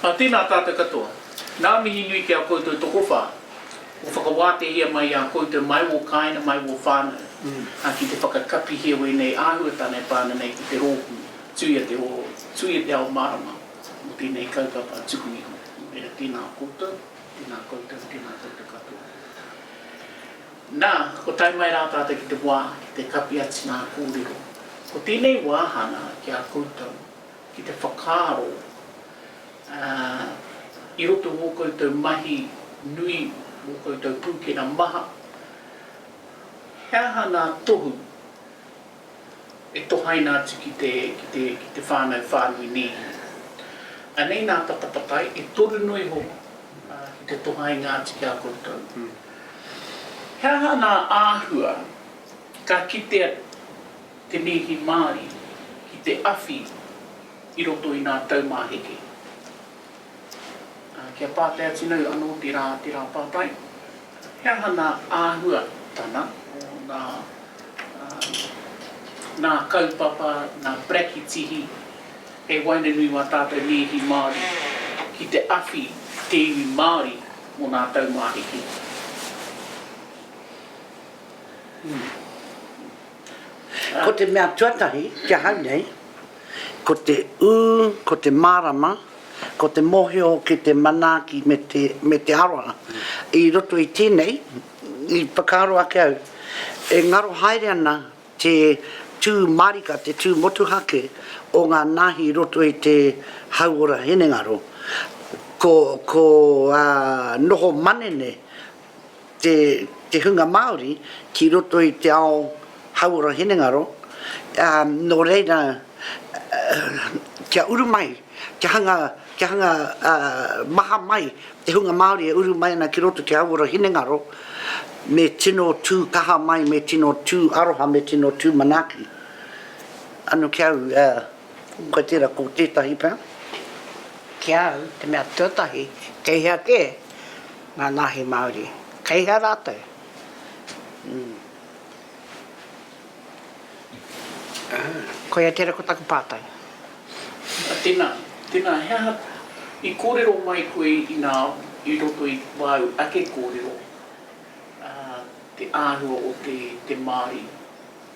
Ā, tēnā tātou katoa. Nā mihi nui ki a koutou tokowhā, kua whakawātehia mai i a koutou mai wō kāinga, mai wō whānau, ā, ki te whakakapihia wēnei āhuatanga e pā ana nei ki te rōpū, tuia te hō, tuia te ao mārama mō tēnei kaupapa tuku iho. Nō reira, tēnā koutou, tēnā koutou, tēnā koutou katoa. Nā, kua tae mai rā tātou ki te wā, ki te kapi atu ngā kōrero. Ko tēnei wāhanga ki a koutou. ki te whakaaro, ā, i roto i ngō koutou mahi nui, ngō koutou pūkena maha, he aha ngā tohu e tohaina atu ki te, ki te, ki te whānau whānui nēhi? Anei ngā patapatai, e toru noa iho, ā, ki te tohaina atu ki a koutou. He aha ngā āhua ka kitea te nēhi Māori ki te awhi i roto i ngā taumāheke. Ā, kia pātai atu nei anō te rā, te rā pātai, he aha ngā āhua tana o ngā, ā, ngā kaupapa, ngā parakitihi hei waenganui i wā tātou nēhi Māori ki te awhi i te iwi Māori mō ngā taumāheke? Ko te mea tuatahi ki ahau nei, ko te ū, ko te mārama, ko te mōhio ki te manaaki me te, me te aroha. I roto i tēnei, i whakaaro ake au, e ngaro haere ana te tū mārika, te tū motuhake o ngā nāhi i roto i te hauora hinengaro. Ko, ko noho manene te hunga Māori ki roto i te ao hauora hinengaro, nō reira kia uru mai, kia hanga, kia hanga maha mai te hunga Māori e uru mai ana ki roto ki te hauora hinengaro, me tino tū kaha mai, me tino tū aroha, me tino tū manaaki. Anō ki au, kua tērā, ko tētahi pea. Ki au, te mea tuatahi, kei hea kē? Ngā nāhi Māori, kei hea rātou? Koia tērā ko taku pātai. Tēnā, tēnā, he aha i kōrero mai koe i ngā, i roto i wāu ake kōrero, te āhua o te, te Māori,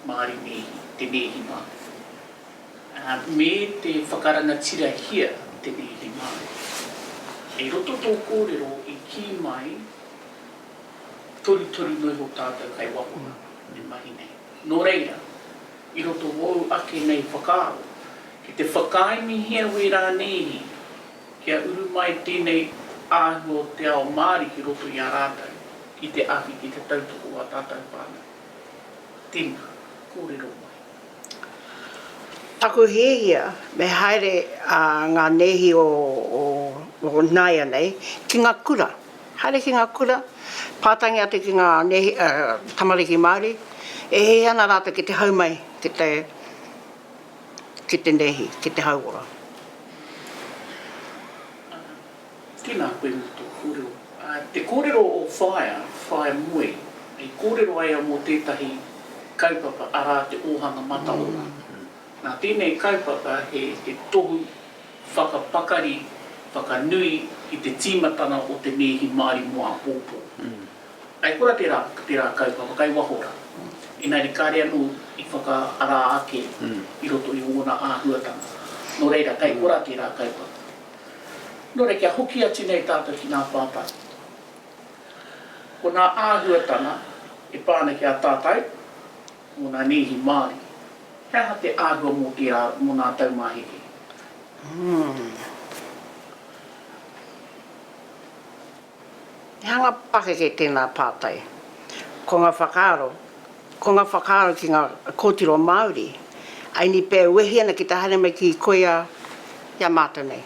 Māori nēhi, te nēhi Māori? me te whakarangatirahia tenei i Māori. Kei roto tō kōrero i kī mai torutoru noa iho tātou kei waho nā e mahi nei. Nō reira, i roto ōu ake nei whakaaro, ki te whakaaemihia wē rānēihi kia uru mai tēnei āhua o te ao Māori ki roto i a rātou ki te ahu ki te tautoko o ā tātou whānau. Tēnā, kōrero mai. Taku hiahia me haere ngā nēhi o nāianei ki ngā kura. Haere ki ngā kura, pātangi atu ki ngā tamariki Māori, e hē ana rātou ki te hau mai ki te ki te nēhi, ki te hauora. Tēnā koe mō tō kōrero. Te kōrero o Whaea, Whaea Moe, i kōrero ai a mō tētahi kaupapa, arā te ōhanga mataora. Nā tēnei kaupapa he tohu whakapakari, whakanui i te tīmatanga o te nēhi Māori mō āpōpō. I kora tērā, tērā kaupapa kai waho rā, engari kāre anō i whakaarā ake i roto i ōna āhuatanga. Nō reira, kai kora tērā kaupapa. Nō reira kia hoki atu nei tātou ki ngā pātai. Ko ngā āhuatanga e pā ana ki a tātou mō ngā nēhi Māori, he aha te āhua mō te ao, mō ngā taumāheke? Ū. He hanga pakeke tēnā pātai. Ko ngā whakaaro, ko ngā whakaaro ki ngā kōtiro Māori, aini pea e wehi ana ki te haere mai ki koia i a mātou nei.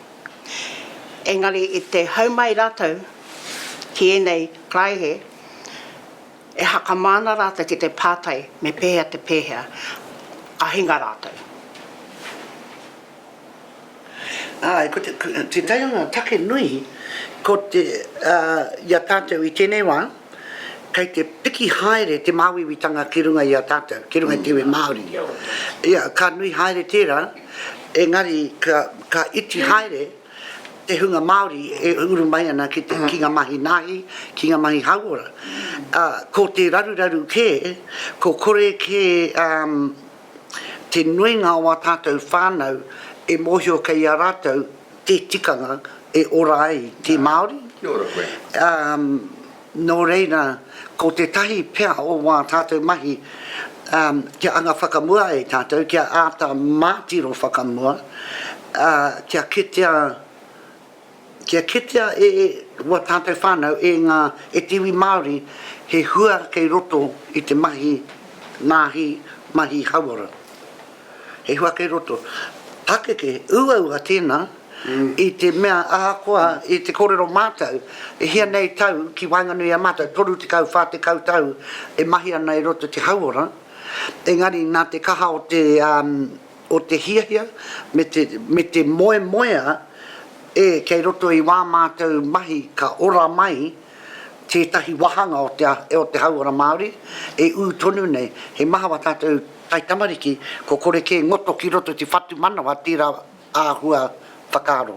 Engari i te hau mai rātou ki ēnei karaehe, e hakama ana rātou ki te pātai me pēhea te pēhea ka hinga rātou. Āe, ko te, tētahi o ngā take nui, ko te, ā, i a tātou i tēnei wā, kei te piki haere te māuiuitanga ki runga i a tātou, ki runga i te iwi Māori. Ia, ka nui haere tērā, engari ka, ka iti haere te hunga Māori e uru mai ana ki, te, ki ngā mahi nāhi, ki ngā mahi hauora. Ā, ko te raruraru kē, ko kore kē, ā, te nuinga o ā tātou whānau e mōhio kei a rātou te tikanga e ora ai te Māori. Kia ora koe. Ā, nō reira, ko tētahi pea o wā tātou mahi, ā, kia anga whakamua ai tātou, kia āta mātiro whakamua, ā, kia kitea, Kia kitea e ua tātou whānau, e ngā, e te iwi Māori, he hua kei roto i te mahi nāhi, mahi hauora. He hua kei roto. Pakeke, uaua tēnā, i te mea ahakoa i te kōrero mātou, e hia nei tau ki waenganui i a mātou, 30, 40 tau e mahi ana i roto i te hauora, engari nā te kaha o te, o te hiahia me te, me te moemoea e kei roto i wā mātou mahi ka ora mai tētahi wāhanga o te, o te hauora Māori e ū tonu nei. He maha wā tātou taitamariki, kua kore kē ngoto ki roto te whatumanawa tērā āhua whakaaro.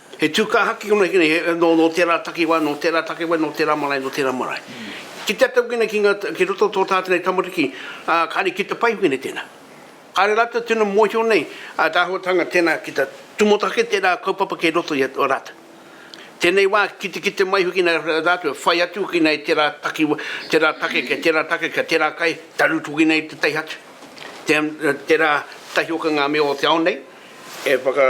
He tūkahaki konei, nō tērā takiwā, nō tērā takiwā, nō tērā marae, nō tērā marae. Ki te ata wina ki roto o tō tātou nei tamariki, kāre ki te pai wina tēnā. Kāre rātou tino mōhio nei a te āhuatanga tēnā ki te tūmoto ake tērā kaupapa kei roto i a rātou. Tēnei wā, kitekite mai hoki nei rātou e whai atu hoki nei tērā takiwā, tērā take, kei tērā take, kei tērā kai, taru hoki nei te taiha atu. Tērā tahi hoki ngā mea o te ao nei e whaka.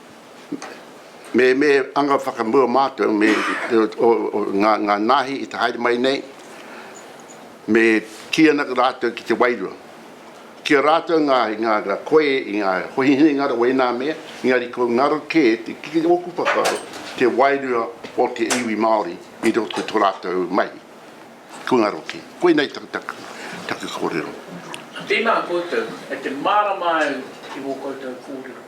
me me anga whakamua mātou me ngā nāhi i te haere mai nei, me kī ana rātou ki te wairua. Ki a rātou ngā ngā koe i ngā hoihine ngaro wēnā mea, engari ko ngaro kē te ki ōku whakaaro te wairua o te iwi Māori i roto i tō rātou mahi. Ko ngaro kē. Koinei taku taku taku kōrero. Tēnā koutou, kei te mārama au i wō koutou kōrero.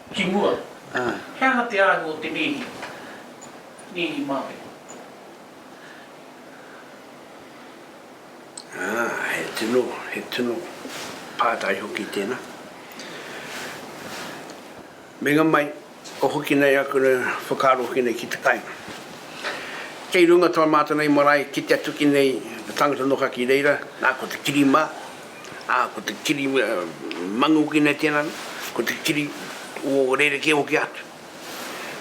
Ki mua, he aha te āhua o te nēhi, nēhi māpene? He tino, he tino pātai hoki tēnā. Meinga mai, o hoki nei aku whakaaro hoki nei ki te kainga. Kei runga tō mātou nei marae ki te atu ki nei, te tangata noho ki reira, nā ko te kiri mā, Ā, ko te kiri mangu ki nei tēnā, ko te kiri o rerekē hoki atu.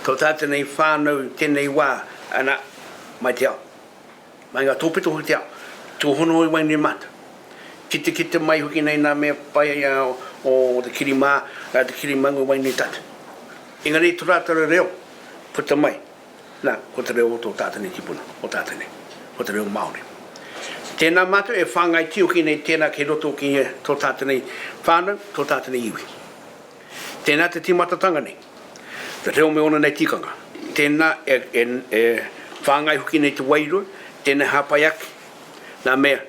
Ko tā tēnei whānau i tēnei wā, ana, mai te ao, mai ngā tōpito hoki te ao, tūhono hoki mai nei mātou. Kitekite mai hoki nei nā mea pai o te kiri mā, te kiri mangu mai nei tātou. Engari tō rātou reo, puta mai. Nā, ko te reo o tō tātene tipuna, o tātene, ko te reo Māori. Tēnā mātou e whāngai tiuki nei tērā kei roto ki tō tātene whānau, tō tātene iwi. Tēnā te tīmatatanga nei, te reo me ōna nei tikanga. Tēnā e, e, e whāngai hoki nei te wairua, tēnei hāpai ake, nā mea,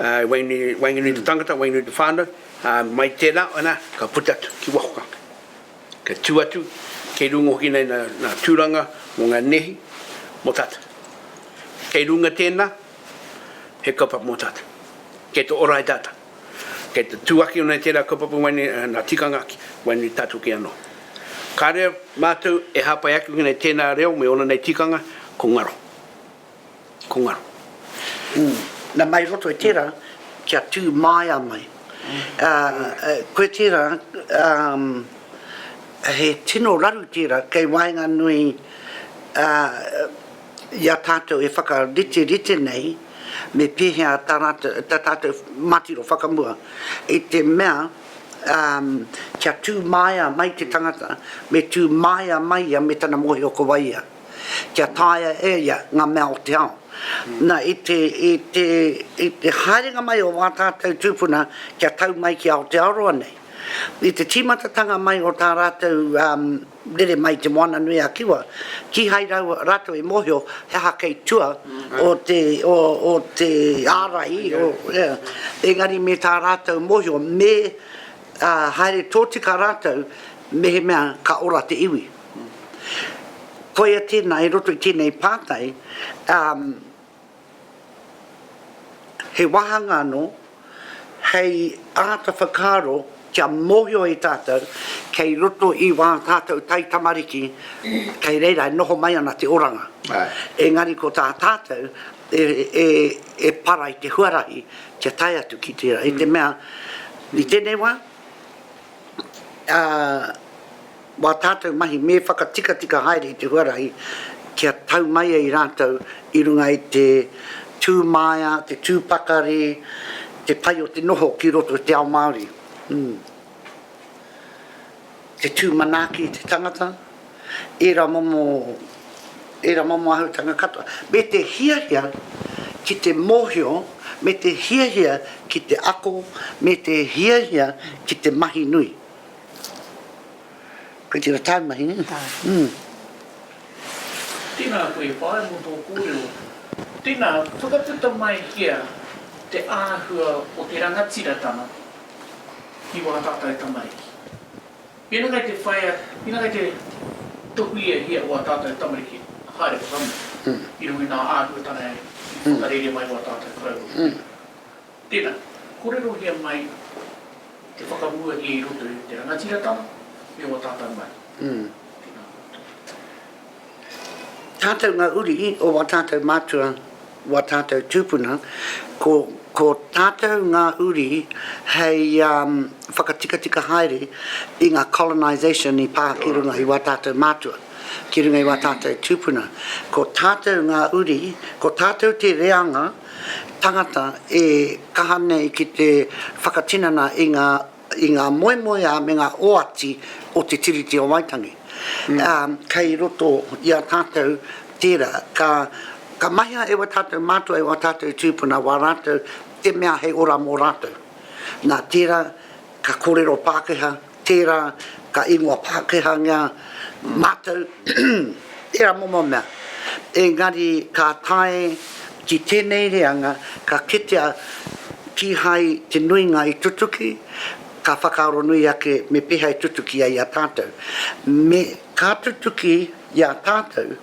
ā, e waenganui, waenganui te tangata, waenganui te whānau, ā, mai tērā, anā, ka puta atu ki waho ka. Kei tū atu, kei runga hoki nei nā tūranga mō ngā nehi mō tātou. Kei runga tēnā, he kaupapa mō tātou. Kei te ora ai tātou. Kei te tū ake nei tērā kaupapa waenei nā tikanga ake, waenei tātou kē anō. Kāre mātou e hāpai ake ki nei tēnā reo me ōna nei tikanga, ko ngaro. Ko nga. Na mai roto i tera, kia tu maia mai. Koe tera, he tino raru tera kei waenganui i a tatou e whakariterite nei me pehea ta ratou, ta tatou matiro whakamua i te mea kia tu maia mai te tangata, me tu maia mai ia me tana mohio ko wai ia. kia taea e ia ngā mea o te ao. Na, i te, i te, i te haerenga mai o wā tātou tūpuna kia tau mai ki Aotearoa nei, i te tīmatatanga mai o tā rātou um, rere mai te Moana nui a Kiwa, kīhai rau, rātou i mōhio he aha kei tua o te, o, o te ārai, o, yeah. engari me tā rātou mōhio me uh, haere tōtika rātou mehemea ka ora te iwi. Koia tēnā, i roto i tēnei pātai, he wāhanga anō hei āta whakaaro kia mōhio ai tātou kei roto i wā tātou taitamariki, kei reira e noho mai ana te oranga. Engari ko tā tātou e para i te huarahi kia tae atu ki tērā, i te mea i tēnei wā, Wā tātou mahi me whakatikatika haere i te huarahi kia tau mai ai rātou i runga i te tū māia, te tū pakari, te pai o te noho ki roto i te ao Māori. Te tū manaaki i te tangata, ērā momo, ērā momo āhutanga katoa, me te hiahia ki te mōhio, me te hiahia ki te ako, me te hiahia ki te mahi nui. Koe tira taumahi ne? Aa. Tēnā koe whaea mō tō kōrero. Tēnā, whakaputa mai kia te āhua o te rangatiratanga ki wā tātou tamariki. Mēnā kei te whaea, mēnā kei te tohuiahia wā tātou tamariki, haere whakamua i runga i ngā āhuatanga e whakarere mai wā tātou koroua. Tēnā, kōrerohia mai te whakamuahia i roto i te rangatiratanga me ō tātau mahi. Tēnā koutou. Tātau ngā uri o wā tātau mātua, wā tātau tūpuna, ko, ko tātau ngā uri hei whakatikatika haere i ngā colonisation i pā ki runga i wā tātau mātua, ki runga i wā tātau tūpuna. Ko tātau ngā uri, ko tātau te reanga, tangata e kaha nei ki te whakatinana i ngā, i ngā moemoeā me ngā oati o te Tiriti o Waitangi. Ā, kei roto i a tātou tērā. Ka, ka mahea e wā tātou mātua, e wā tātou tūpuna, wā rātou te mea hei ora mō rātou. Nā tērā, ka kōrero Pākehā. Tērā ka ingoa Pākehāngia mātou, tērā momo mea. Engari ka tae ki tēnei reanga ka kitea kīhai te nuinga i tutuki, ka whakaaro nui ake me pēhea e tutuki ai i a tātou. Me ka tutuki i a tātou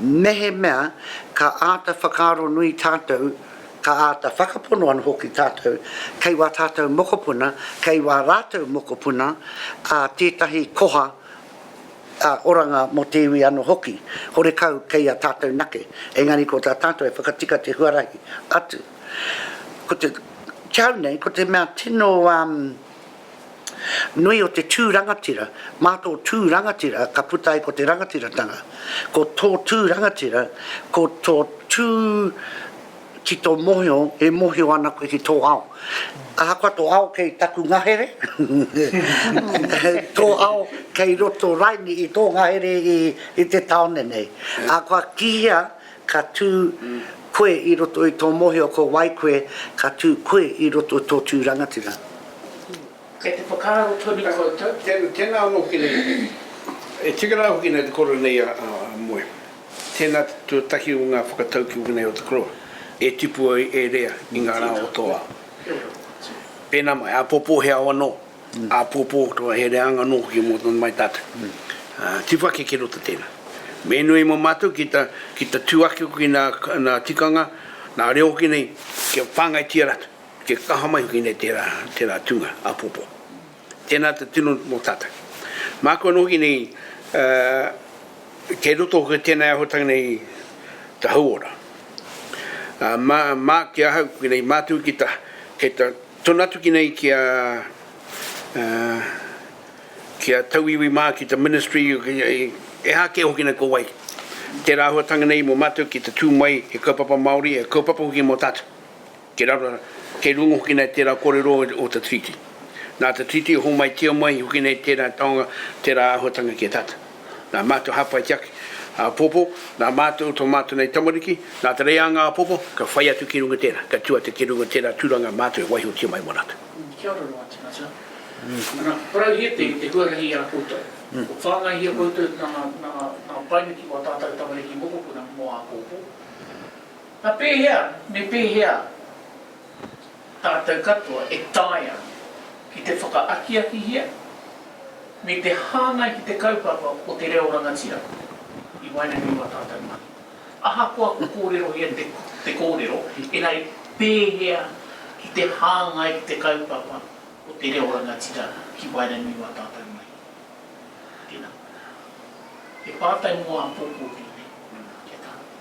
mehemea ka āta whakaaro nui tātou ka āta whakapono anō hoki tātou kei wā tātou mokopuna, kei wā rātou mokopuna ā tētahi koha ā oranga mō te iwi anō hoki, horekau kei a tātou nake, engari ko tā tātou e whakatika te huarahi atu. Ko te, tau nei, ko te mea tino ā. nui o te tū rangatira, mā tō tū rangatira ka puta ai ko te rangatiratanga, ko tō tū rangatira, ko tō tū ki tō mohio e mohio ana koe ki tō ao. Ahakoa tō ao kei taku ngahere, tō ao kei roto raini i tō ngahere i te taone nei. Ā, kua kīia, Ka tū koe i roto i tō mōhio ko wai koe, ka tū koe i roto i tō tū rangatira. Kei te whakaaro tonu koutou? Tēnā anō hoki nei. E tika rā hoki nei te koro nei a Moe. Tēnā te tuatahi o ngā whakataukī wēnei o te koroa e tipu ai, e rea i ngā rā o tō ao. Pēnā mai, āpōpō he ao anō. Āpōpō, katoa, he reanga nō hoki mō tana mai tātou. Tiwha keke roto tēnā. Me nui mō mātou ki te, ki te tū ake hoki nā, nā tikanga, nā reo hoki nei, kia whāngaitia rātou, kia kaha mai hoki nei tērā, tērā tūnga, āpōpō. Tēnā te tino mō tātou. Māku anō hoki nei, kei roto hoki tēnei āhuatanga nei i te hauora. Mā, mā ki ahau, koinei mātou ki te, kei te Tonu atu ki nei ki a ki a Tauiwi mā ki te Ministry ehā kē hoki nei ko wai. Tērā āhuatanga nei mō mātou ki te tū mai he kaupapa Māori, he kaupapa hoki mō tātou. Kei raro, kei runga hoki nei tērā kōrero o te Treaty. Nā te Treaty e hōmaitia mai hoki nei tērā taonga, tērā āhuatanga ki a tātou. nā mātou hāpai te ake āpōpō, nā mātou, tō mātou nei tamariki, nā te reanga āpōpō, ka whai atu ki runga tērā, ka tū atu ki runga tērā tūranga mātou e waihotia mai mō rātou. Kia ora noa tīmata. Ana, parauhia te te huarahi i a koutou. Kua whāngaihia koutou nā nā nā painga ki wā tātou tamariki mokopuna mō āpōpō. Nā pēhea me pēhea? Tātou katoa e taea ki te whakaakiakihia me te hāngai ki te kaupapa o te reo rangatira i waenganui i ā tātou mahi. Ahakoa kua kōrerohia te kōrero, engari pēhea ki te hāngai ki te kaupapa o te reo rangatira ki waenganui i ā tātou mahi? Tēnā. He pātai mō āpōpō tēnei, kia tākina.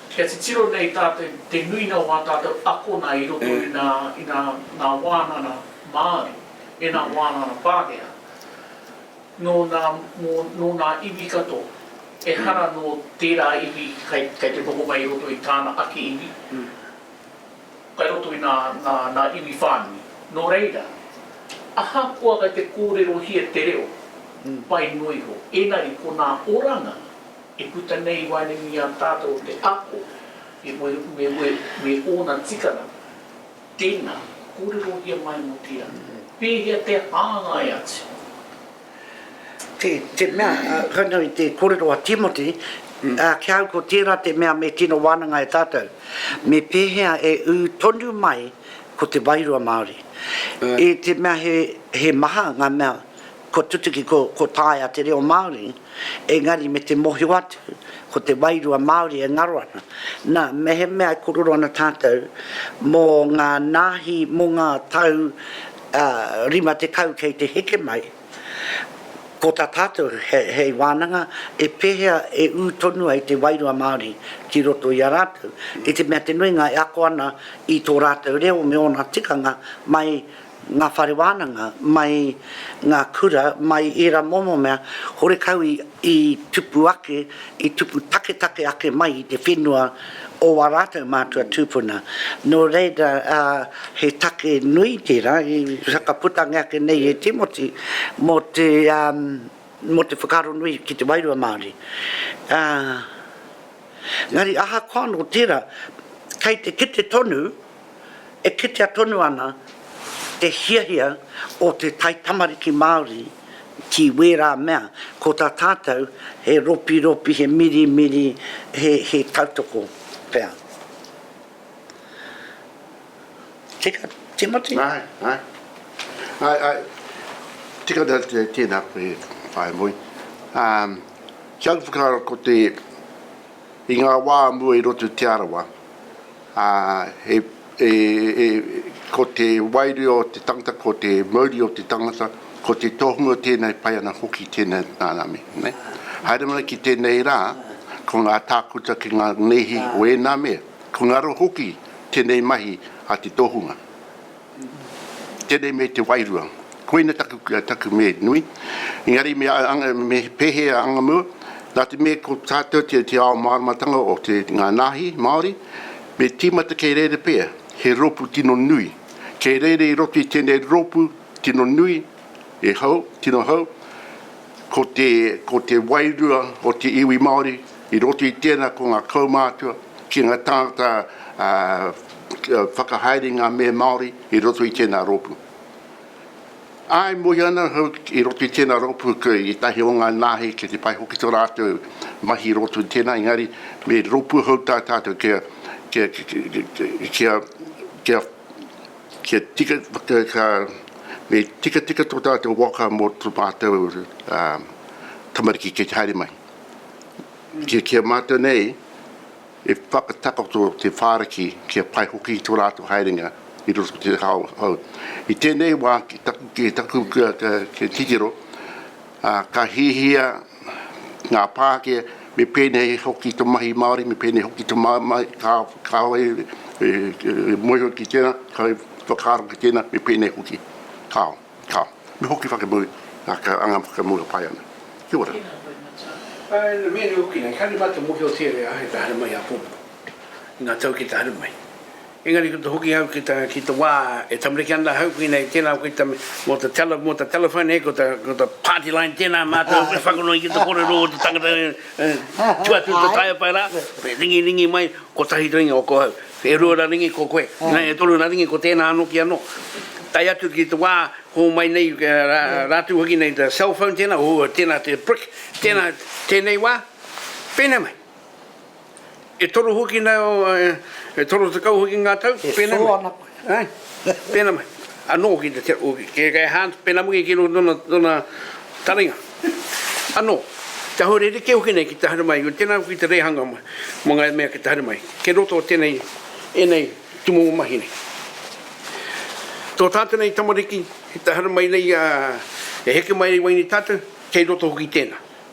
Kia titiro nei tātou te nuinga o ā tātou akona i roto i nā, i nā, nā wānana Māori me nā wānana Pākehā, nō nā, mō, nō nā iwi katoa, ehara nō tērā iwi kei, kei te noho mai i roto i tāna ake iwi, kai roto i nā, nā, nā iwi whānui. Nō reira, ahakoa kai te kōrerohia te reo, pai noa iho, engari ko nā oranga, I puta nei i waenganui i a tātou o te ako i wewewe me ōna tikanga. Tēnā, kōrerohia mai mō te ā, pēhea te hāngai atu? Ki te mea, koinei i te kōrero a Timoti, ā, ki a au ko tērā te mea me tino wānanga e tātou, me pēhea e ū tonu mai ko te wairua Māori. I te mea he maha ngā mea. Ko tutuki ko, ko taea te reo Māori, engari me te mohio atu, ko te wairua Māori e ngaro ana. Na, mehemea e kororo ana tātou mō ngā nāhi mō ngā tau ā, rima tekau kei te heke mai, ko tā tātou he, hei wānanga, e pēhea e ū tonu ai te wairua Māori ki roto i a rātou, i te mea te nuinga e ako ana i tō rātou reo me ōna tikanga mai ngā whare wānanga, mai ngā kura, mai ērā momo mea, horekau i tupu ake, i tupu taketake ake mai i te whenua o ā rātou mātua tūpuna. Nō reira, he take nui tērā, i whakaputangia ake nei e Timoti, mō te, mō te whakaaro nui ki te wairua Māori. Ā, engari ahakoa nō tērā, kei te kite tonu, e kitea tonu ana te hiahia o te taitamariki Māori ki wērā mea, ko tā tātou he ropiropi, he mirimiri, he, he tautoko pea. Tika, Timoti? Āe, āe. Āe, āe. Tika te, tēnā koe, Whaea Moe. Ā, kia uru whakaaro ko te, i ngā wā mua i roto i Te Arawa, ā, he, e, e, ko te wairua o te tangata, ko te mauri o te tangata, ko te tohunga tēnei pai ana hoki tēnei rānami, ne? Haere mai ki tēnei rā, ko ngā tākuta ki ngā nēhi o ēnā mea, ko ngaro hoki tēnei mahi a te tohunga. Tēnei me te wairua. Koina taku, taku mē nui. Engari me anga, me pēhea anga mua, nā te mea ko tātou te, te ao māramatanga o te, ngā nāhi Māori, me tīmata kei reira pea, he rōpū tino nui. Kei reira i roto i tēnei rōpū tino nui, e hou, tino hou, Ko te, ko te wairua o te iwi Māori, i roto i tēnā ko ngā kaumātua, ki ngā tāngata ā, kia whakahaere ngā mea Māori i roto i tēnā rōpū. Āe, mohi ana ahau i roto i tēnā rōpū ko ētahi o ngā nāhi ki te pai hoki tō rātou mahi i roto i tēnā, engari me rōpū ahau tā tātou kia, kia, kia, kia, kia, Kia tika, ka, me tikatika tō tātou waka mō tō mātou tamariki kei te haere mai. Kia, kia mātou nei e whakatakoto te whāriki kia pai hoki i tō rātou haerenga i roto te hao hou. I tēnei wā ki taku, ki taku kia, kia titiro, ka hiahia ngā pāke, me pēnei hoki te mahi Māori, me pēnei hoki te mamae, kāore e moeho ki tēnā, kāore e whakaaro ki tēnā, me pēnei hoki. Kāo, kāo. Me hoki whakamau ngā anga whakamau e pai ana. Kia ora. Tēnā koe Matua. Ā, ina mihi hoki nei, kāore mātou mōhiotia e āhei ka haere mai i āpōpō, i ngā tau ki te haere mai. Engari ko te hoki hau ki ta, ki te wa e tamariki ana hau koina i tena koe ta mo ta tele, mo ta telephone he ko ta, ko ta party line tena matou e whakanui ki te korero o te tangata e, e tu atu te tae pai ra, e ringi ringi mai kotahi ringi o ko hau, e rua ra ringi ko koe, ina e toru ra ringi ko tena ano ki ano. Tae atu ki te wa ho mai nei ra, ratu hoki nei ta cell phone tena, o tena te brick, tena tenei wa, penei mai. E toru hoki nei o, e toru tekau hoki ngā tau, pēnei mai, pēnei mai, anō ki te, kei Hans Penamugi ki roto tōna, tōna taringa, anō, kia hou rerekē hoki nei ki te haere mai, tēnā hoki te rehanga mai, mō ngā mea ki te haere mai, kei roto o tēnei, ēnei tumumu mahi nei. Tō tātou nei tamariki, ki te haere mai nei, e heke mai ai wai nei tātou, kei roto hoki tēnā.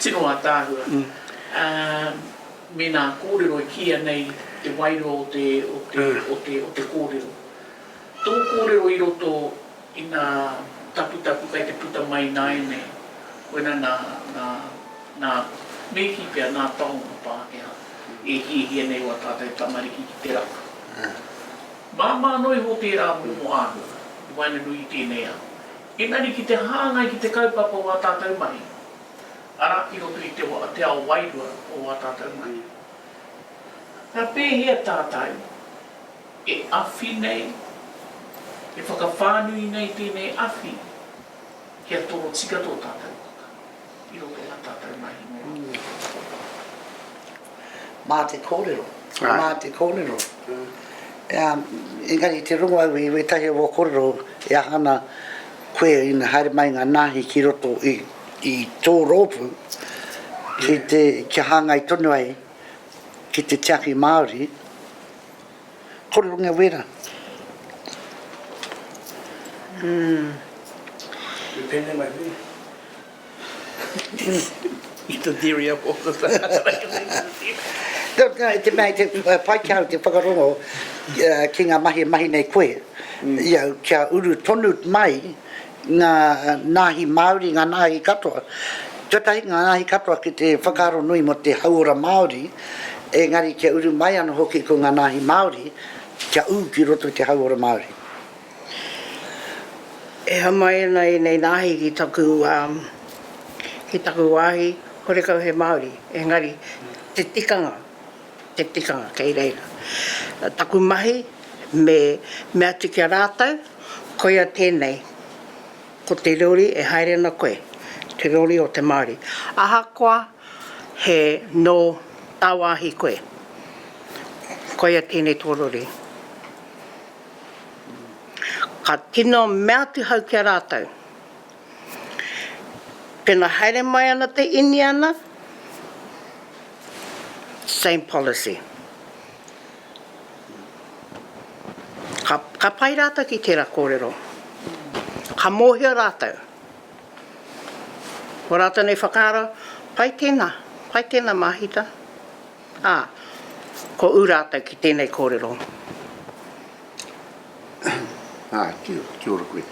Tino ataahua. Mena korero e kiia nei te wairua o te o te o te korero. To korero i roto i nga taputapu kai te puta mai naenei koina na na na Meki pea na tahonga Pakeha e hiahia nei oa tatou tamariki ki te raka. Mama ano iho tera momo ahua i waenganui i tenei ao. Engari ki te hāngai ki te kaupapa o ā tātou mahi, arā, i roto i te te ao wairua o ā tātou mahi. Nā, pēhea tātou e awhi nei, e whakawhānui nei tēnei awhi kia torotika tō tātou waka i roto i ā tātou mahi mō Aotearoa? Mā te kōrero, mā te kōrero. Engari i te rongo au i wētahi o ō kōrero e aha ana koe ina haere mai ngā nāhi ki roto i tō rōpū ki te, kia hāngai tonu ai ki te tiaki Māori, kōrerongia wēra. Ū. Pēnei mai hoki. I te theory of authors. No, no, te mea, te, uh, pai ki au te whakarongo uh, ki ngā mahi e mahi nei koe, mm. ia, kia uru tonu mai ngā nāhi Māori, ngā nāhi katoa. Tuatahi ngā nāhi katoa ki te whakaaro nui mo te hauora Māori, engari kia uru mai ano hoki ko ngā nāhi Māori, kia ū ki roto te hauora Māori. E hā mai ana ēnei nāhi ki taku, ki taku wāhi, horekau he Māori, engari te tikanga, te tikanga kei reira. Taku mahi me mea atu ki a rātou, koia tēnei, ko te rori e haere ana koe, te rori o te Māori. Ahakoa he nō tāwāhi koe, koia tēnei tō rori. Ka tino mea atu hau ki a rātou, Pena haere mai ana te Iniana, same policy. Ka, ka pai rātou ki tērā kōrero. Ka mōhio rātou. Ko rātou nei whakaaro, pai tēnā, pai tēnā māhita. Ā, ko ū rātou ki tēnei kōrero. Ā, kia ora koe.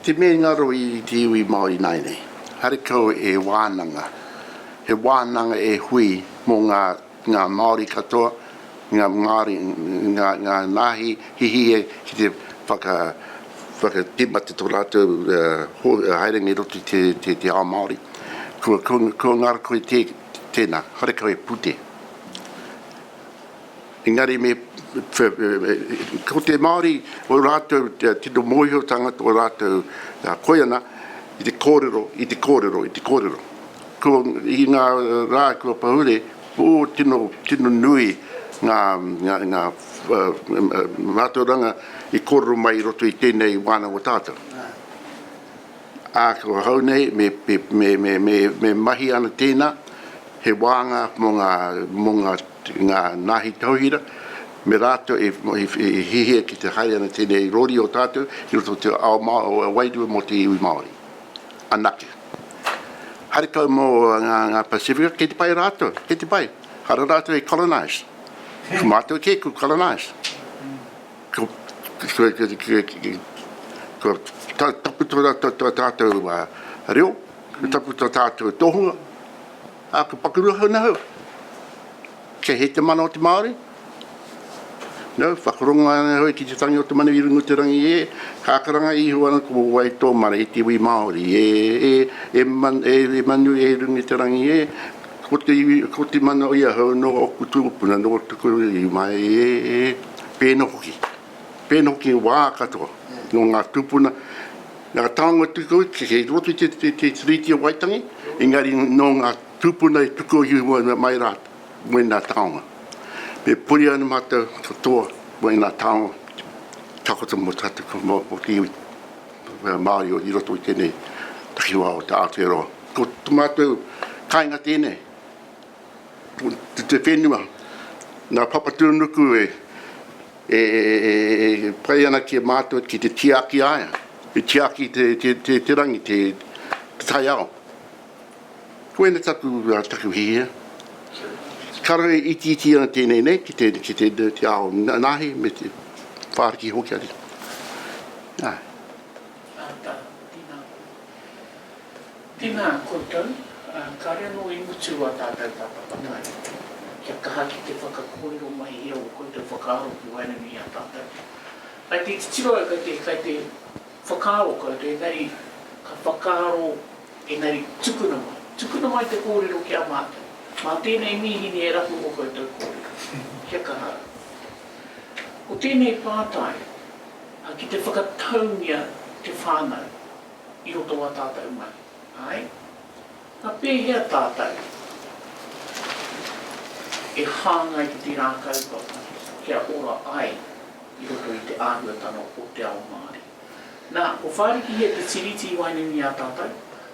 Te mea i ngaro i te iwi Māori ināianei, haere kau e wānanga, he wānanga e hui mō ngā, ngā Māori katoa, ngā Māori, ngā, ngā nāhi hihie ki te whaka, whakatīmata tō rātou, haerenga i roto i te, te, te ao Māori. Kua, kua ngaro koe tē, Tēnā, karekau e pute. Engari me, ko te Māori, ō rātou tino mōhiotanga, tō rātou koiana, i te kōrero, i te kōrero, i te kōrero. Ko, i ngā rā kua pahure, o, tino, tino nui ngā, ngā, ngā mātauranga i kōrero mai i roto i tēnei wānanga o tātou. ā, ko ahau nei me mahi ana tēnā, he wānga mō ngā nāhi tauhira, me rātou e hihia ki te haere ana tēnei rori o tātou ki roto o te ao wairua mō te iwi Māori. Anake. Haere kau mō ngā Pasifika, kei te pai rātou, kei te pai. Hara rātou i colonise. Ko mātou kē, ko colonise. Kua taputo rātou tō tātou reo, kua taputo tā tātou tohunga, ā, kua paku rua hou nā hou. Kei hē te mana o te Māori? No, whakarongoa ana hou ki te tangi o te manu i runga o te rangi e, kākaranga iho ana ko wai tō mana e te iwi Māori e, e, e, e manu e runga i te rangi e, ko te iwi, ko te mana o ia hou nō ōku tūpuna, nō tuku iwi mai e, e. Pēnā hoki, pēnā hoki i wā katoa, nō ngā tūpuna, ngā taonga tuku iho kei roto i te Tiriti o Waitangi, engari nō ngā tūpuna e tuku iho ana mai rā wēnā taonga. Me puri ana mātou katoa wēnā taonga takoto mō tātou ka mau mō te iwi Māori i roto i tēnei takiwā o te Aotearoa. Ko tō mātou kāinga tēnei. te whenua, nga papatuanuku e pai ana ki a matou ki te tiaki aia, i tiaki te rangi, te taiao. Koina taku hihia. Kare e itiiti ana tenei nei ki te ao nahi me te whariki hoki. Ae. Ata, tina koe. Tina koutou, ka reno i mutu a tātou papa katahi. Kia kaha ki te whakakōrero mai i ō koutou whakaaro ki waenganui i a tātou. Kai te titiro au, kai te, kai te whakaaro koutou, engari ka whakaaro, engari tukuna mai. Tukuna mai te kōrero ki a mātou. Mā tēnei mīhini e rapu ō koutou kōrero. Kia kaha au. Ko tēnei pātai, ki te whakataungia te whānau. i roto o a tātou mahi. Āe. Na pēhea tātou e hāngai ki tērā kaupapa kia ora ai i roto i te āhuatanga o te ao Māori? Na, ko Whāriki Hē te Tiriti i waenganui i a tātou,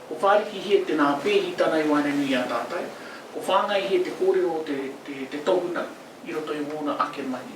ko Whāriki Hē te nā pēhitanga i waenganui i a tātou, ko Whāngai Hē te kōrero o te tohunga i roto i wōna ake mahi.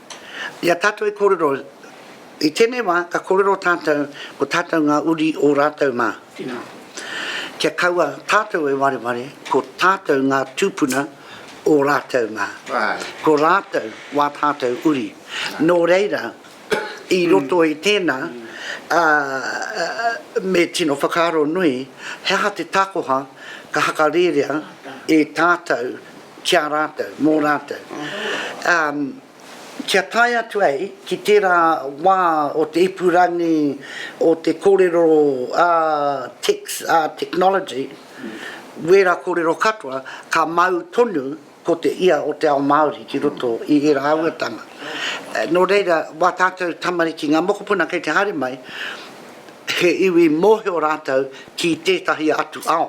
I a tātou e kōrero, i tēnei wā ka kōrero tātou ko tātou ngā uri o rātou mā. Tēnā. Kia kaua tātou e wareware ko tātou ngā tūpuna o rātou mā. Āe. Ko rātou wā tātou uri. Nō reira, i roto i tēnā, ā, me tino whakaaro nui, he aha te takoha ka hakarērea e tātou ki a rātou, mō rātou, ā, kia tae atu ai ki tērā wā o te ipurangi, o te kōrero ā tex, ā technology, wērā kōrero katoa, ka mau tonu ko te ia o te ao Māori ki roto i ērā āhuatanga. Nō reira, wā tātou tamariki, ngā mokopuna kei te haere mai, he iwi mōhio rātou ki tētahi atu ao.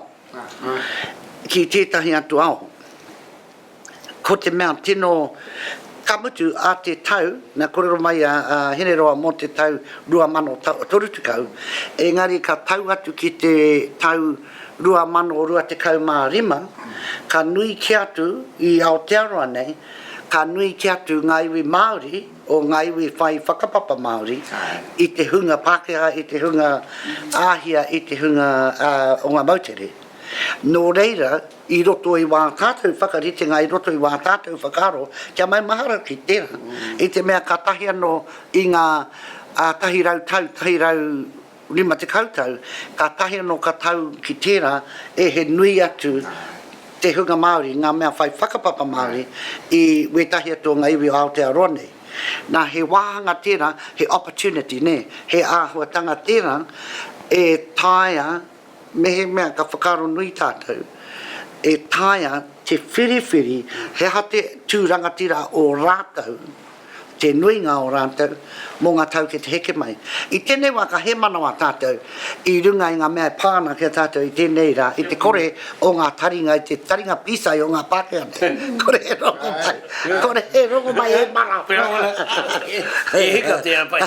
ki tētahi atu ao. Ko te mea tino, ka mutu ā te tau, mea kōrero mai a Hineroa mō te tau 2030, engari ka tau atu ki te tau 2025, ka nui kē atu i Aotearoa nei, ka nui kē atu ngā iwi Māori, o ngā iwi whai whakapapa Māori i te hunga Pākehā, i te hunga Āhia, i te hunga o ngā moutere. Nō reira, i roto i wā tātou whakaritenga, i roto i wā tātou whakaaro, kia maumahara ki tērā, i te mea kātahi anō i ngā tahi rau tau, tahi rau. Rima tekau tau, kātahi anō ka tau ki tērā e he nui atu te hunga Māori, ngā mea whai whakapapa Māori i wētahi atu o ngā iwi o Aotearoa nei. Nā, he wāhanga tērā, he opportunity, nē, he āhuatanga tērā e taea, Mehemea ka whakaaro nui tātou, e taea te whiriwhiri he aha te tū rangatira o rātou, te nuinga o rātou, mō ngā tau ki te heke mai. I tēnei wā ka hēmanawa tātou i runga i ngā mea e pā ana ki a tātou i tēnei rā, i te kore o ngā taringa, i te taringa pīsai o ngā Pākehā nei. Kore he rongomai, kore he rongomai e mara! He hika tēnā pai.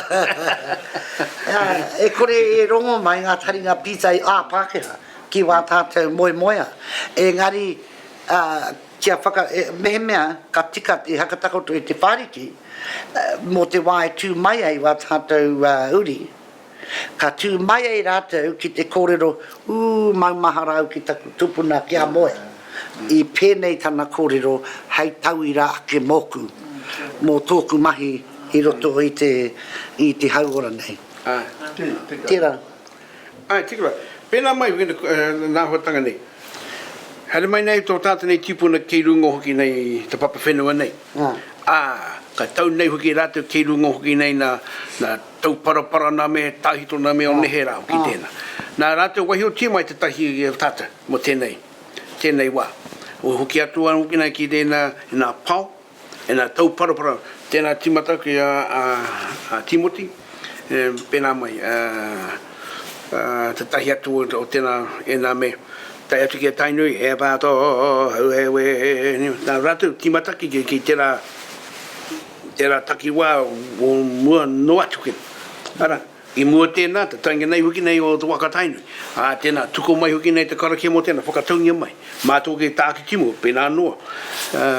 E kore e rongo mai ngā taringa pītai ā-Pākehā ki wā tātou moemoeā, engari kia whaka, mehemea ka tika te haka takoto i te whāriki mō te wā e tū mai ai wā tātou uri, ka tū mai ai rātou ki te kōrero, ū, maumahara au ki taku tupuna kia moe. I pēnei tana kōrero hei tauira ake mōku, mō tōku mahi i roto i te, i te hauora nei. Āe. Tērā. Āe, tiki wā. Pēnā mai hoki ngā āhuatanga nei. Haere mai nei tō tātou nei tīpuna kei runga hoki nei i te papa whenua nei. Āe. Ā, ka tau nei hoki rātou kei runga hoki nei nā, nā Tauparapara nā me Tāhito nā me o nehe rā hoki tēnā. Nā rātou waiho tia mai tētahi o tātou mō tēnei. tēnei wā. Ua hoki atu au hoki nei ki tēnā, ēnā pao, ēnā tauparapara, tēnā tīmata ki a, a, a Tīmoti, e, pēnā mai, a, a, te tahi atu o, o tēnā, ēnā me tae atu ki a Tainui, he pā tō hau he wē, nā rātou tīmata ki, ki tērā, tērā takiwā o mua noa atu kē. Ara. I mua tēnā, te taenga nei hoki nei o te wa ka Tainui. Ā, tēnā, tuku mai hoki nei te karakia mō tēnā, whakataungia mai. Mā tō kei tākitimu, pēnā noa, ā,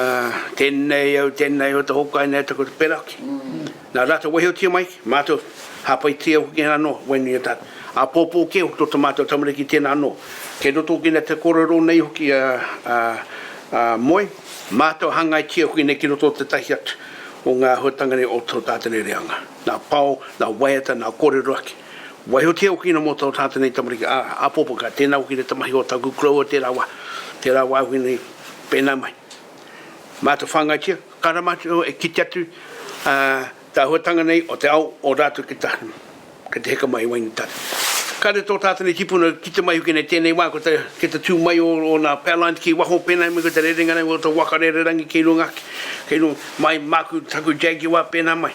tēnei au, tēnei au, te hōkai nei, te ko te peraki. Nā rātou waihotia mai ki, mātou, hāpaitia hoki nā noa, waenui a tātou. Āpōpō kē hoki tō tā mātou tamariki tēnā noa. Kei roto hoki nei te kōrero nei hoki a, a, a Moe, mātou hangaitia hoki nei ki roto o tētahi atu o ngā āhuatanga nei o tō tātou nei reanga. nā Pao, nā Waiata, nā Kōrerohaki. Waihotia hoki ina mō tō tātou nei tamariki a Apopo, ka tēnā hoki te tamahi o taku koroua tērā wā, tērā wā hoki nei pēnā mai. Mātou whāngaitia, ka rā mātou e kite atu tā huatanga nei o te ao o rātou ki taha, ki te heka mai i Wainetara. Kāre tō tātou nei tipuna kite mai hoki nei tēnei wā ki te tū mai o ngā power lines ki waho pēnā mai ko te rerenga nei o tō waka rererangi kei runga ake, kei runga mai māku, taku Jaguar pēnā mai.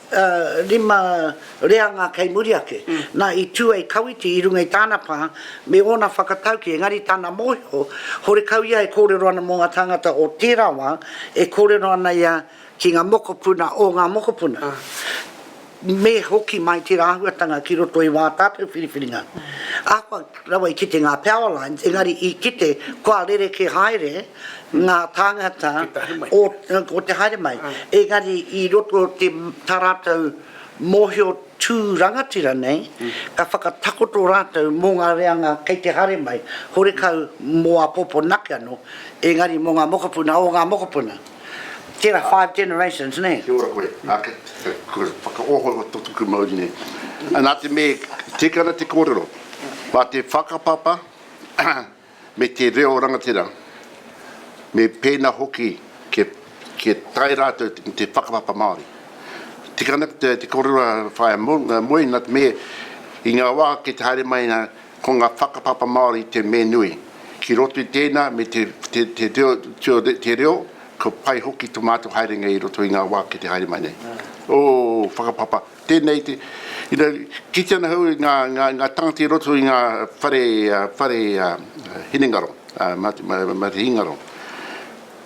ā, rima reanga kei muri ake. Nā, i tū ai Kawiti i runga i tāna pā me ōna whakataukī, engari tana mōhio, horekau ia e kōrero ana mō ngā tāngata o tērā wā, e kōrero ana ia ki ngā mokopuna o ngā mokopuna, me hoki mai tērā āhuatanga ki roto i wā tātou whiriwhiringa. Ahakoa rawa i kite ngā Powerlines, engari i kite kua rerekē haere, ngā tāngata o, ko te haere mai, engari i roto o te, tā rātou mōhio tū rangatira nei, ka whakatakoto rātou mō ngā reanga kei te haere mai, horekau mō āpōpō nake anō, engari mō ngā mokopuna o ngā mokopuna. Tērā five generations, nē? Kia ora koe. Ā, kua whakaohooho tō tuku mauri nei. Nā te mea, tika ana te kōrero, mā te whakapapa, me te reo rangatira, me pēnā hoki kia, kia tae rātou ki te whakapapa Māori. Tika ana ki te, te korua whaea moe, nā te mea, i ngā wā kei te haere mai nā, ko ngā whakapapa Māori te me nui. Ki roto i tēnā, me te, te, te, reo, tio, te reo, kua pai hoki to mātou haerenga i roto i ngā wā kei te haere mai nei. Ō, whakapapa. Tēnei te, you know, kitea ana hou ngā, ngā, ngā tangata i roto i ngā whare, whare hinengaro, matihingaro.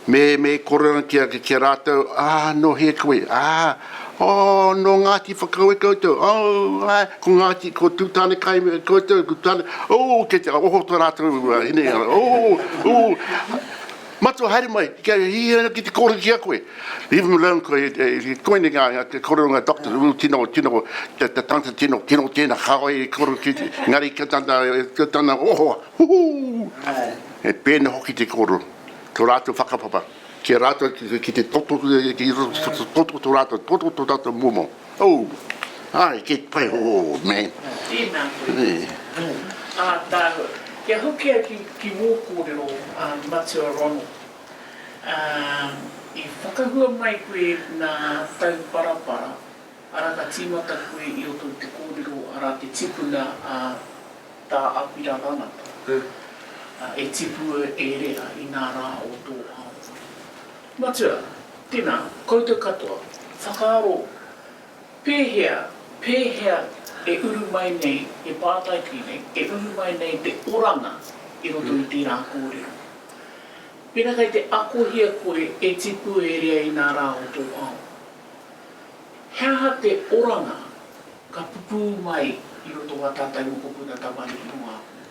Me, me kore ana ki a, ki a rātou, ā, nō hea koe, ā, oh, nō Ngāti Whakaue koutou, oh, ā, ko Ngāti, ko Tūtānekai koutou, ko Tūtāne, oh, kei te oho tō rātou hinengaro, oh, oh. Matua, haere mai, kia hihiri ana ki te kōrero ki a koe. Leave him alone, ko koinei ngā kōrero ngā doctors, ū, tino, tino, te tangata tino, tino tēnā, kāore i kōrero ki, engari ka tana, ka tana ohoa, huhū! He pēnei hoki te kōrero, tō rātou whakapapa, ki a rātou, ki te toto, ki roto, toto tō rātou, toto tō rātou momo. Oh, ae, kei te pai hoho, man. Tēnā koe. Ā tāua, kia hokia ki wō kōrero, Matua Ronald. I whakahua mai koe nā Tauparapara, arā ka tīmata koe i roto i te kōrero, arā te tipuna a Tā Apira Rangata, e tipua e rea i ngā rā o tō ao. Matua, tēnā, koutou katoa, whakaaro pēhea, pēhea e uru mai nei, e pātai ki nei, e uru mai nei te oranga i roto i tērā kōrero. Pēnā kei te akohia koe e tipu e rea i nā rā o tō ao, he aha te oranga ka pupū mai i roto wā tātou mokopuna tamariki o Ngāpuhi?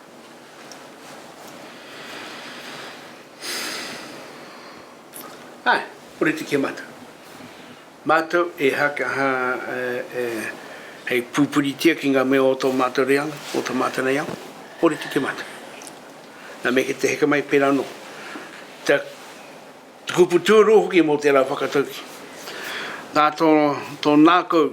Ā, kore te kemata. Mātou e haka, ha, e, hei pūpuritia ki ngā mea o tō mātou reanga, o tā mātou nei ao, kore te kemata. Nā, me kē te heke mai pērā anō. Te, te kupu tūrū hoki mō tērā whakatauki. Nā tō, tō nākou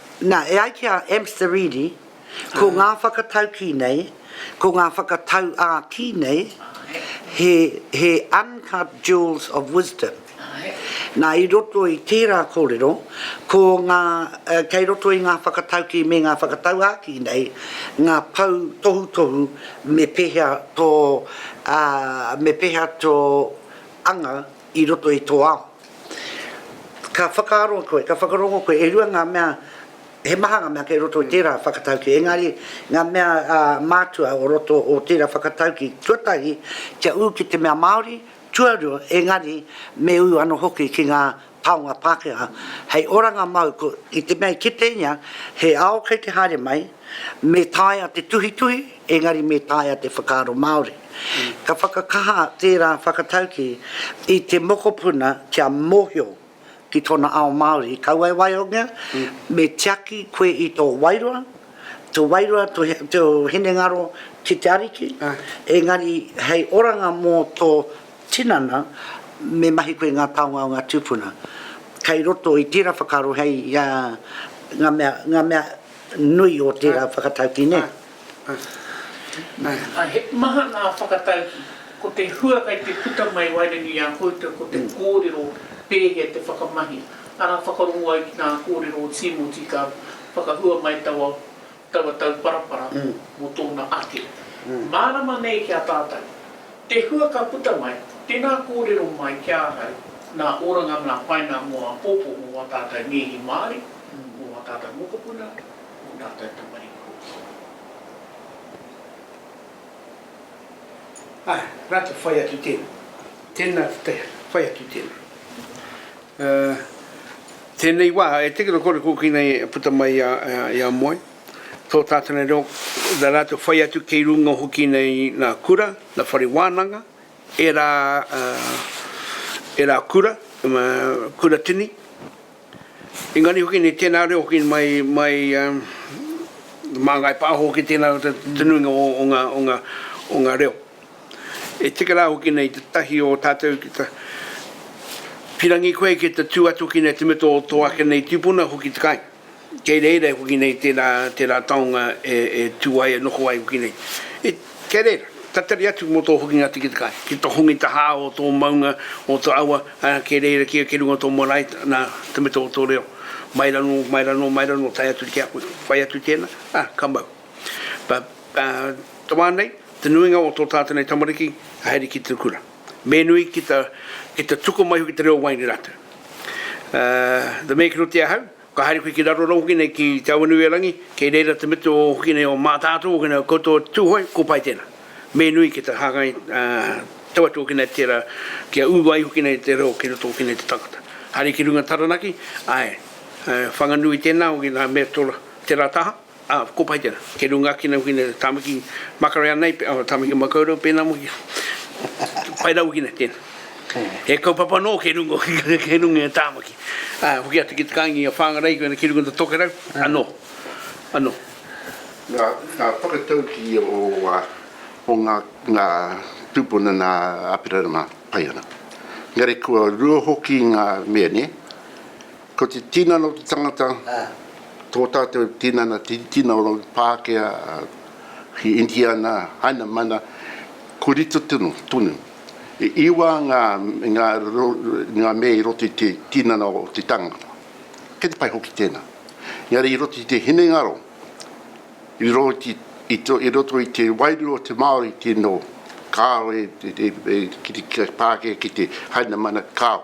Nā, e ai ki a Amstaridi, ko ngā whakataukī nei, ko ngā whakatauākī nei, he, he uncut jewels of wisdom. Nā, i roto i tērā kōrero, ko ngā, kei roto i ngā whakataukī me ngā whakatauākī nei, ngā pou tohutohu me pēhea tō, ā, me pēhea tō anga, i roto i tō ao. Ka whakaaro koe, ka whakarongo koe, e rua ngā mea, he maha ngā mea kei roto i tērā whakatauki, engari ngā mea mātua o roto o tērā whakatauki, tuatahi, kia ū ki te mea Māori, tuarua, engari me ū anō hoki ki ngā taonga Pākehā, hei oranga mau i te mea i kite ia he ao kei te haere mai, me taea te tuhituhi, engari me taea te whakaaro Māori. Ka whakakaha tērā whakataukī i te mokopuna kia mōhio ki tōna ao Māori, kaua e waihongia, me tiaki koe i tō wairua, tō wairua, tō hinengaro ki te Ariki, engari hei oranga mō tō tinana, me mahi koe i ngā taonga o ngā tūpuna. Kei roto i tērā whakaaro hei ngā mea, ngā mea. Nui o tērā whakatauki, nē? Nā, he maha ngā whakatauki. Ko te hua kei te puta mai waenganui i a koutou ko te kōrero pēhea te whakamahi, arā whakarongo ai ki ngā kōrero o Tīmoti ka whakahua mai taua taua tauparapara mō tōna ake. Mārama nei ki a tātou. Te hua ka puta mai, tēnā kōrero mai ki ahau, nā Oranga nā Paina mō āpōpō mō wā tātau Nēhi Māori, mō wā tātau mokopuna, mō tātau tamariki hoki. Ā, rā te whai atu tēnā. Tēnā te whai atu tēnā. Ā, tēnei wā, e teke noa kore kōkina e puta mai i a, i a Moe. tō tātana reo, nā rātou whai atu kei runga hoki nei nā kura, nā whare wānanga, ērā, ērā kura, kura tini. Engari hoki nei tēnā reo hoki mai, mai mā Ngāi Pāho hoki tēnā reo te nuinga o, o ngā, o ngā, o ngā reo. E tika rā hoki nei te tahi o tātou ki ta pirangi koe ki te tū atu ki nei te mita o tō ake nei tīpuna hoki te kāinga. Kei reira hoki nei tērā, tērā taonga e, e tū ai, e noho ai hoki nei. E, kei reira, tatari atu mō tō hokinga tikitikai, ki tō hongi tahā o tō maunga, o tō awa, ā, kei reira kē, kei runga o tō marae, nā, te mita o tō reo. Mai rano, mai rano, mai rano, tae atu ki a koe, whai atu tēnā, ā, ka mau. But, ā, te wā nei, te nuinga o tō tātou nei tamariki, haere ki te kura. me nui ki ta, ki ta tuku mai hoki te reo waenga i ratou. Aa, the mea ki roto i ahau, ka haere koe ki raro rau hoki nei ki Te Awanuiarangi, kei reira te mete o hoki nei o Matatou hoki nei o koutou a Tuhoe, ko pai tena. Me nui ki ta hangai, aa, tau atu hoki nei tera, kia u ai hoki nei te reo ki roto hoki nei te tangata. Haere ki runga Taranaki, ae, whanganui tena hoki na Meritora tera taha, Ā, ko Paitera, kei runga ake nei hoki nei, Tāmaki Makareā nei, pē, ā, Tāmaki Makaurau pēnā hoki. Pai rawa hoki nei, tēnā. He kaupapa nō kei runga hoki, kei runga i a Tāmaki. Ā, hoki atu ki te kāinga i a Whāngarei, koinā ki runga i tō tokerau, anō, anō. Ngā, ngā whakataukī o, o ngā, ngā tūpuna nā Āpirana mā, pai ana. Engari kua rua hoki ngā mea, nē? Ko te tinana o te tangata, tō tātou tinana Tiritina o Rangi Pākehā ki Indiana, Haina Mana, ko rito tonu. E iwa ngā ngā mea i roto i te tinana o te tangata. Kei te pai hoki tēnā. Engari i roto i te hinengaro, i roto i te i roto i te wairua o te Māori tino kāore e ki te Pākehā ki te Haina Mana, kāo.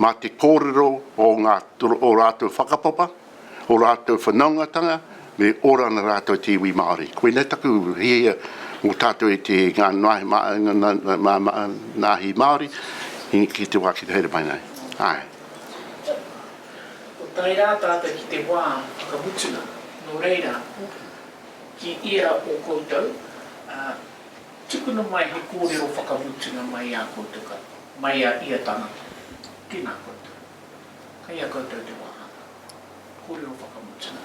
mā te kōrero o ngā, o rātou whakapapa, o rātou whanaungatanga, me ora ana rātou te iwi Māori. Koinei taku hiahia mō tātou e te, ngā nāhi Māori, ki te wā ki te haere mai nei. Āe. Ko tae rā tātou ki te wā whakamutunga, nō reira, ki ia o koutou, ā. Tukuna mai he kōrero whakamutunga mai ā koutou katoa, mai a ia tangata. Tēnā koutou. Kei a koutou te wāhanga. Kōrero whakamutunga.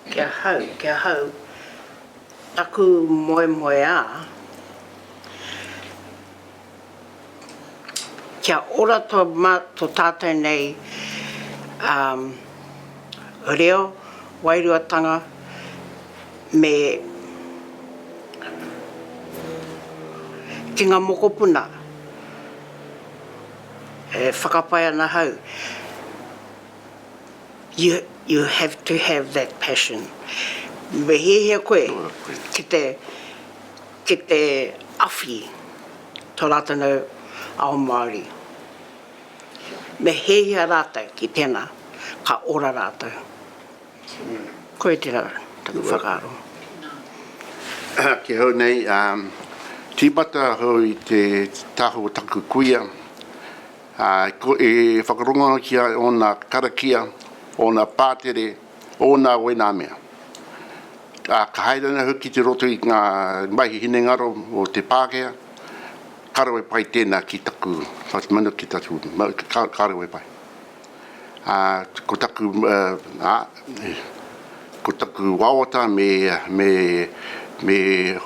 Ki ahau, ki ahau, taku moemoeā. kia ora to ma to tatou nei um reo wairuatanga me ki nga mokopuna e whakapae ana hau you you have to have that passion me hiahia koe ki te Ki te awhi tō rātou ao Māori, me hiahia rātou ki tēnā, ka ora rātou. Koia tērā taku whakaaro. Ki hau nei, tīmata ahau i te taha o taku kuia, e whakarongo ana ki a ia ōna karakia, ōna pātere, ōna wēnā mea. Ā, ka haere ana hoki ki roto i ngā mahi hinengaro o te Pākehā, ka rawe pai tēnā ki taku whatumanawa, ki taku mau, ka rawe pai. Ā, ko taku, ā, ko taku wawata me, me, me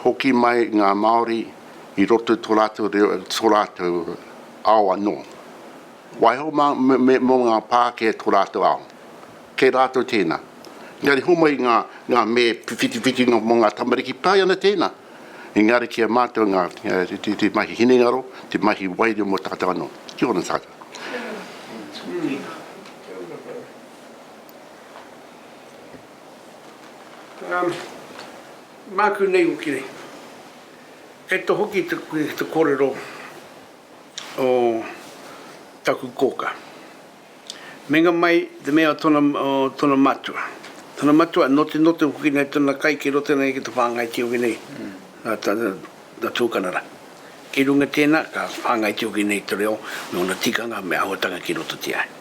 hoki mai ngā Māori i roto i tō rātou reo, tō rātou ao anō. Waiho mā, me, mō ngā Pākehā tō rātou ao. Kei rātou tēnā. Engari homai ngā, ngā mē whitiwhitinga mō ngā tamariki, pai ana tēnā. Engari ki a mātou ngā, te, te mahi hinengaro, te mahi wairua mō tātou anō. Kia ora tātou. Um, māku nei hoki nei. Kei te hoki te, te kōrero. o taku koka. Menga mai te mea o tona o tona matua. Tona matua note note hoki nei tona kai ki roto nei ki te whangai tiogi nei a ta ta tukanara. Ki runga tena ka whangai tiogi nei te reo nona tikanga me ahotanga ki roto tia.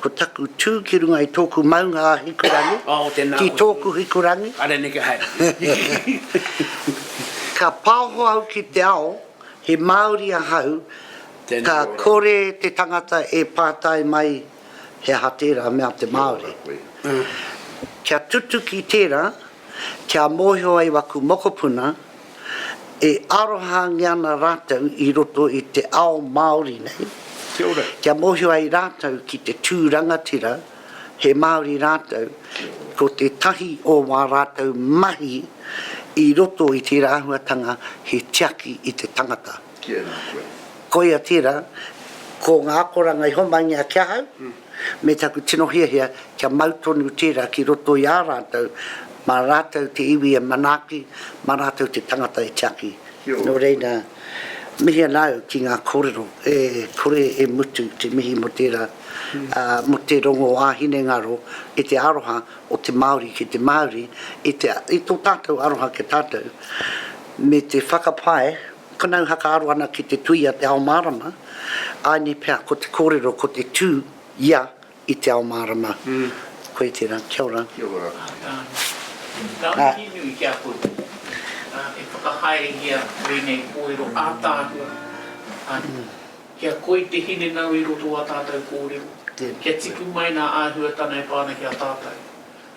Ko taku tū ki runga i tōku maunga a Hikurangi, oh, ki tōku Hikurangi. Are neke hai. ka pāho au ki te ao, he Māori ahau, Tēnā ka ora. kore te tangata e pātai mai he aha tērā mea te Māori. Mm. Kia tutuki tērā, kia mōhio ai waku mokopuna, E arohaangia ana rātou i roto i te ao Māori nei, kia mōhio ai rātou ki te tū rangatira, he Māori rātou, ko tētahi o wā rātou mahi i roto i tērā āhuatanga he tiaki i te tangata. Koia tērā, ko ngā akoranga i homai ngia ki ahau, me taku tino hiahia kia mau tonu tērā ki roto i ā rātou, mā rātou te iwi e manaaki, mā rātou te tangata e tiaki. Nō reira, mihi ana au ki ngā kōrero e kore e mutu te mihi mō tērā, ā, mō te rongo ā-hinengaro i te aroha o te Māori ki te Māori, i te, i tō tātou aroha ki a tātou, me te whakapae, Whanau whakaaro ana ki te tui a te ao mārama, āinei pea ko te kōrero ko te tū ia i te ao mārama. Koe tērā, kia ora. Kia ora. Ngā mihi nui ki a koutou e whakahaerehia ēnei kōrero ātaahua, kia koi te hinengau i roto o ā tātou kōrero, kia tipu mai ngā āhuatanga e pā ana ki a tātou.